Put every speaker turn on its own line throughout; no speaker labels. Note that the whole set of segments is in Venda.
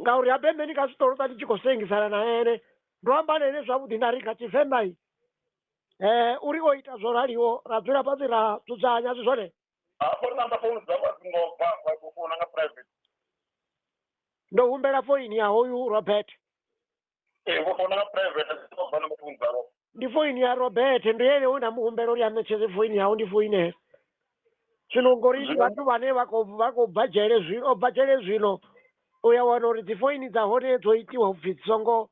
ngauri habe mbe ndi nga zwi ṱoḓa ndi tshi khou sengisana na ene ndo amba na ene zwavhuḓi nda ri nga tshivenḓa i um uri o ita zwo raliho ra dzula fhasi ra dzudzanya zwi zwone hafho ri namba
founu dzavho a dzi ngo bva wa khou founa nga private ndo humbela
foini ya hoyu robert ee
vho founela private vha no muthu mungalo ndi foini ya
robert ndo yele una muhumbela uri anetshedze foini yawo ndi foinela zwino ngori ndi vhathu vhane vha khou vha khou bva dzhele zwino o bva dzhele zwino u ya wana uri dzi foini dza hone dzo itiwa upfhi dzi songo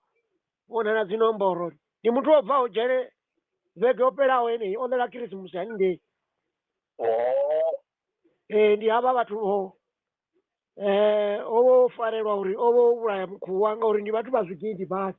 vhonala dzi nomboro ndi muthu o bvaho dzhele vhege yo fhelaho yeneyi o ḽela khirisimusi haningei oo ee ndi havha vhathu vho eh o vha o farelwa uri o vha o vhulaya mukhuwa ngauri ndi vhathu vha zwigidi badi.